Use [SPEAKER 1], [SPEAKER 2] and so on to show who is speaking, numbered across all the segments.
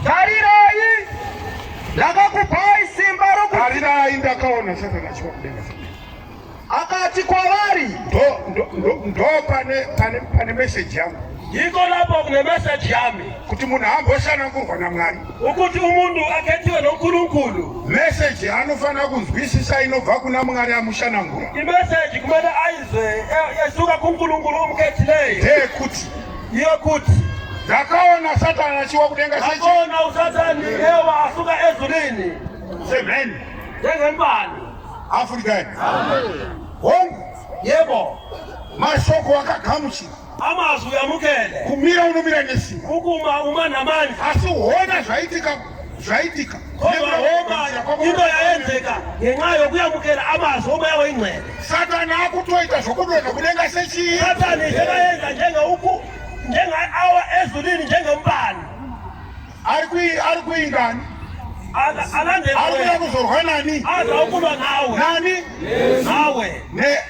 [SPEAKER 1] Tarirai, ndakakupai simba rokuti. Tarirai, ndakaona Satani achiva kudenga.
[SPEAKER 2] Akati kwavari,
[SPEAKER 1] ndo pane pane pane message yangu. Iko lapo
[SPEAKER 3] kune message yami. Kuti munhu amboshana
[SPEAKER 1] kurwa naMwari. Ukuti umuntu
[SPEAKER 3] akhethiwe noNkulunkulu. Message
[SPEAKER 1] anofanira kunzwisisa inobva kuna Mwari amushanangura. Imessage kumele
[SPEAKER 3] ayizwe esuka kuNkulunkulu omkhethileyo. Ndeyekuti
[SPEAKER 1] yekuti
[SPEAKER 3] ndakaona
[SPEAKER 1] satani achiwa kudenga sechakaona usatani
[SPEAKER 3] ewa asuka ezurini semheni
[SPEAKER 1] ndezembani
[SPEAKER 3] african
[SPEAKER 1] hongu yebo
[SPEAKER 3] mashoko
[SPEAKER 1] akagamuchira amazwi
[SPEAKER 3] amukele kumira unomira
[SPEAKER 1] nesimba kukuma uma namani
[SPEAKER 3] asi hona
[SPEAKER 1] zvaitika zvaitika koma homa
[SPEAKER 3] indo yaenzeka ngenyaa yokuyamukira amazwi omweya weingcwele satani akutoita
[SPEAKER 1] zvokudonha kudenga sechii satani zvekaenza
[SPEAKER 3] njengeuku njengeawa ezulini njengemumbani ari
[SPEAKER 1] kuyi ari kuyi ngani
[SPEAKER 3] alandekuya kuzorwa
[SPEAKER 1] nani azaokulwa nawe
[SPEAKER 3] nani
[SPEAKER 1] nawe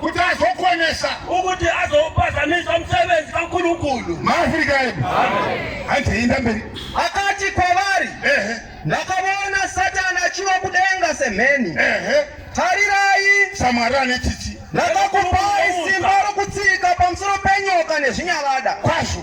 [SPEAKER 3] kuti azokonesa
[SPEAKER 1] ukuti
[SPEAKER 3] azopazamisa musevenzi kankulunkulu maafrika edu
[SPEAKER 1] handiinda mberi akati kwavari
[SPEAKER 2] ndakavona satani achiva kudenga semheni tarirai samwari ane
[SPEAKER 1] tsitsi ndakakupai
[SPEAKER 2] simba rokutsika pamusoro penyoka nezvinyavada kwazvo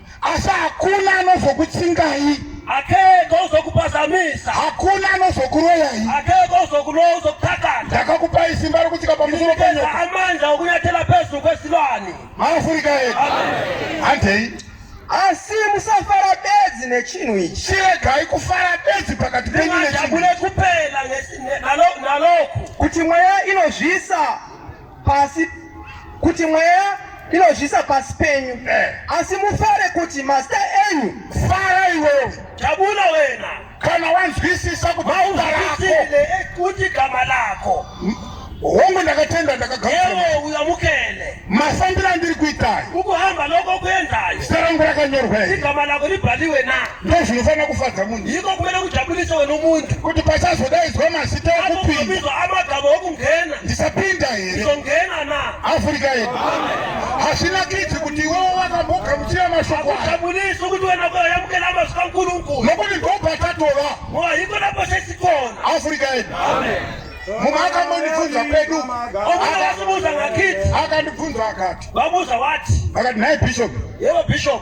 [SPEAKER 1] asi hakuna anozokutsingai akeko
[SPEAKER 3] uzokupazamisa hakuna
[SPEAKER 1] anozokuroyai akeko uzokuroya
[SPEAKER 3] uzokutakana ndakakupai simba
[SPEAKER 1] rokutsika pamusoro penyoka amandla okunyathela
[SPEAKER 3] pezulu kwesilwane maafurika edu
[SPEAKER 1] handei asi
[SPEAKER 2] musafara bedzi nechinhu ichi chiregai kufara
[SPEAKER 1] bedzi pakati penyu nechinhu kupela
[SPEAKER 3] naloku kuti mweya
[SPEAKER 2] inozvisa pasi kuti mweya inozvisa pasi penyu eh. asi mufare kuti mazita enyu fara iwewe
[SPEAKER 1] tabula wena
[SPEAKER 3] kana wanzwisisa
[SPEAKER 1] kuauzwisile
[SPEAKER 3] kuti gama lako hongu
[SPEAKER 1] ndakatenda ndakagaewe uyamukele
[SPEAKER 3] masandira ndiri
[SPEAKER 1] kuitayo ukuhamba loko
[SPEAKER 3] kuendayo zita rangu rakanyorwa
[SPEAKER 1] igama lako libhaliwe
[SPEAKER 3] na ndozvinofanira kufadza
[SPEAKER 1] munhu iko kumene kujabulisa
[SPEAKER 3] wena umuntu kuti pasazodaidzwa
[SPEAKER 1] mazita ekupinda amagama okungena
[SPEAKER 3] ndisapinda here
[SPEAKER 1] izongena na
[SPEAKER 3] afrika yedu
[SPEAKER 1] hazvina kidzi kuti iwewo wakambogamuchira mashoko ajabulisa ukuthi wena
[SPEAKER 3] koyamukela amazwi kankulunkulu nokuti ndopatatova
[SPEAKER 1] ngoba yiko lapho
[SPEAKER 3] sesikona afrika yedu
[SPEAKER 1] mumwe akambondibvunza kwedu
[SPEAKER 3] akandibvunza akati
[SPEAKER 1] vabuza wati
[SPEAKER 3] akati nhai bishop
[SPEAKER 1] yevo bishop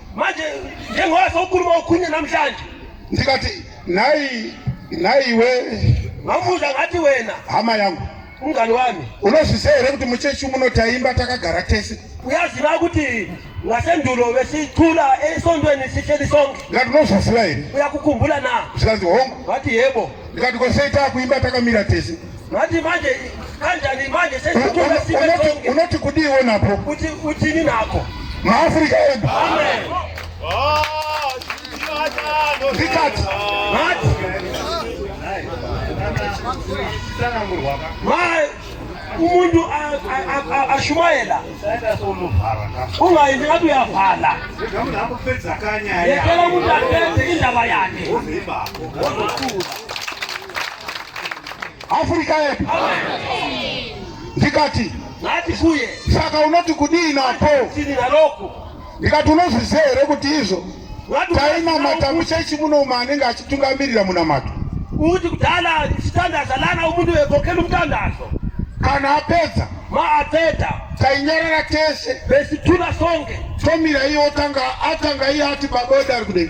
[SPEAKER 1] manje
[SPEAKER 3] njengoba sokhuluma okhunye namhlanje ndikathi
[SPEAKER 1] nayi nayi we ngamuza
[SPEAKER 3] ngathi wena hama yangu
[SPEAKER 1] umngani wami
[SPEAKER 3] unozviziva here kuti
[SPEAKER 1] muchechi muno taimba takagara tese uyaziva kuti
[SPEAKER 3] ngasendulo besicula esontweni sihleli sonke ndikati unozviziva here
[SPEAKER 1] uyakukhumbula na
[SPEAKER 3] zvikanzi hongu wathi
[SPEAKER 1] yebo ndikati
[SPEAKER 3] kosei takuimba
[SPEAKER 1] takamira tese Manje manje
[SPEAKER 3] kanjani manje sisi tuwe sibe tonge. Unoti kudii wewe napo?
[SPEAKER 1] Kuti kuti ni nako.
[SPEAKER 3] Ma Africa ebu.
[SPEAKER 1] Amen. Oh, Vikat. Mat.
[SPEAKER 3] Mai umuntu ashumayela ungayenzi ngathi uyavala yekela umuntu aphethe indaba yakhe
[SPEAKER 1] Afrika yedu ndikati nati kuye
[SPEAKER 3] saka unoti kudii
[SPEAKER 1] napo tini naloko
[SPEAKER 3] ndikati unozviziva
[SPEAKER 1] here kuti izvo tainamata muchechi muno umwe anenge achitungamirira munamato uti kudala
[SPEAKER 3] ndichitandaza lana umuntu wevokela umtandazo kana
[SPEAKER 1] apedza ma apedza
[SPEAKER 3] tainyarara
[SPEAKER 1] tese besithula sonke
[SPEAKER 3] tomira iye otanga
[SPEAKER 1] atanga iye ati baboda ari kudei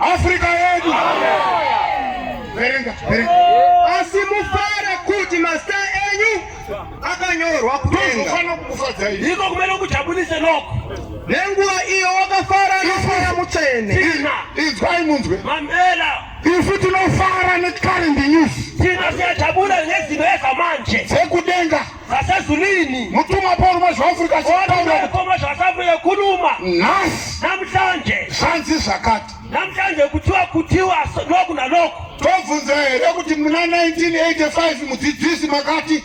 [SPEAKER 1] Africa yedu. Verenga, verenga.
[SPEAKER 2] Asi mufare kuti masta enyu akanyorwa kudenga. Iko
[SPEAKER 3] kumene kujabulise noko. Nenguva
[SPEAKER 2] iyo wakafara nofara mutsvene. Inzwai
[SPEAKER 1] munzwe. Mamela.
[SPEAKER 3] Isu tinofara
[SPEAKER 1] necurrent news. Tinofyatabura
[SPEAKER 3] nezino yezamanje. Dzekudenga.
[SPEAKER 1] Zasezulwini.
[SPEAKER 3] Mutumwa Paul mwezva
[SPEAKER 1] Afrika achitaura. Paul mwezva
[SPEAKER 3] Afrika kuruma. Nhasi.
[SPEAKER 1] Namhlanje.
[SPEAKER 3] Zvanzi zvakati.
[SPEAKER 1] Namhlanje kutiwa
[SPEAKER 3] kutiwa loku naloku. Tobvunza here
[SPEAKER 1] kuti muna 1985 mudzidzisi makati.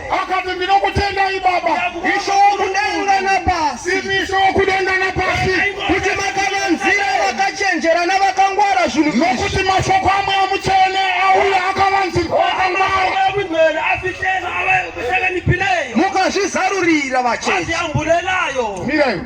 [SPEAKER 2] akati
[SPEAKER 1] ndinokutendai baba isho wokudenga
[SPEAKER 2] napasi imi isho wokudenga
[SPEAKER 1] napasi kuti makavanzira
[SPEAKER 2] vakachenjera navakangwara zvinhu nokuti mashoko
[SPEAKER 1] amwe amutsvene auya akavanzirwa
[SPEAKER 2] mukazvizarurira vachechiyamburenayo
[SPEAKER 1] miraiwo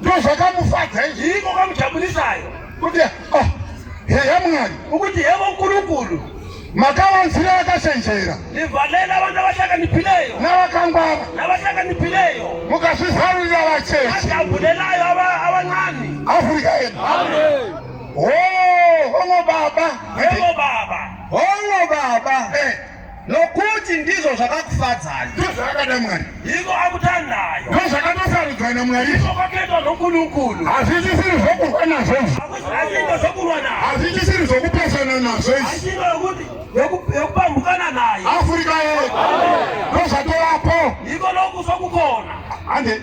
[SPEAKER 1] ndozvakamufadza izvi iko kamujabulisayo
[SPEAKER 3] kuti
[SPEAKER 1] ah, heya mwari ukuti hevo
[SPEAKER 3] kurukuru makavanzira
[SPEAKER 1] vakachenjera ndivhalela vanhu
[SPEAKER 3] avashakanipileyo navakangwara
[SPEAKER 1] navashakanipileyo
[SPEAKER 3] mukazvizarurira
[SPEAKER 1] vacheche ajabulelayo
[SPEAKER 3] avancani afrika
[SPEAKER 1] yedu hongo baba hongo baba
[SPEAKER 3] hongo baba
[SPEAKER 2] eh. nokuti ndizvo zvakakufadzai ndozvakada mwari
[SPEAKER 1] iko akutandayo
[SPEAKER 3] ndozvakatosarudzwa
[SPEAKER 1] namwari iko kwakaitwa
[SPEAKER 3] nokunukunu hazvichisiri zvokurwa
[SPEAKER 1] nazvo hazviita zvokurwa
[SPEAKER 3] nazvo hazvichisiri zvokupesana
[SPEAKER 1] nazvo izvi
[SPEAKER 3] yokupambukana naye afurika ye
[SPEAKER 1] ndozvatovapo iko
[SPEAKER 3] nokusokukona ande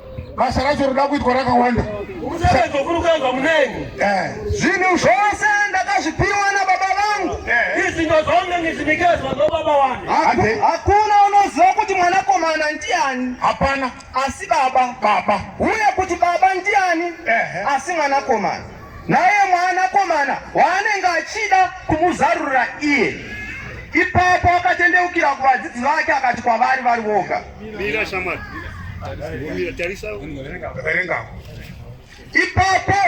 [SPEAKER 1] basa racho roda kuitwa rakawanda musebenzi
[SPEAKER 3] wokurukanzwa muneni eh. zvinhu
[SPEAKER 2] zvose ndakazvipiwa nababa vangu eh. izinto zonke
[SPEAKER 3] ngizinikezwa nobaba wami hakuna
[SPEAKER 2] unoziva kuti mwanakomana ndiani hapana asi
[SPEAKER 1] baba
[SPEAKER 2] baba uye kuti baba ndiani eh. asi mwanakomana naye mwanakomana waanenge achida kumuzarurira iye ipapo akatendeukira kuvadzidzi vake akati kwavari vari voga Mira shamwari. Mira tarisa. Verenga. Ipapo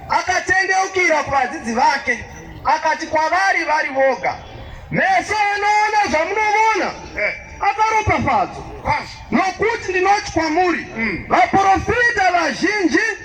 [SPEAKER 2] akatendeukira kuvadzidzi vake akati kwavari vari voga, meso anoona zvamunoona eh. akaropafadzwa, nokuti ndinoti kwamuri hmm. vaprofita vazhinji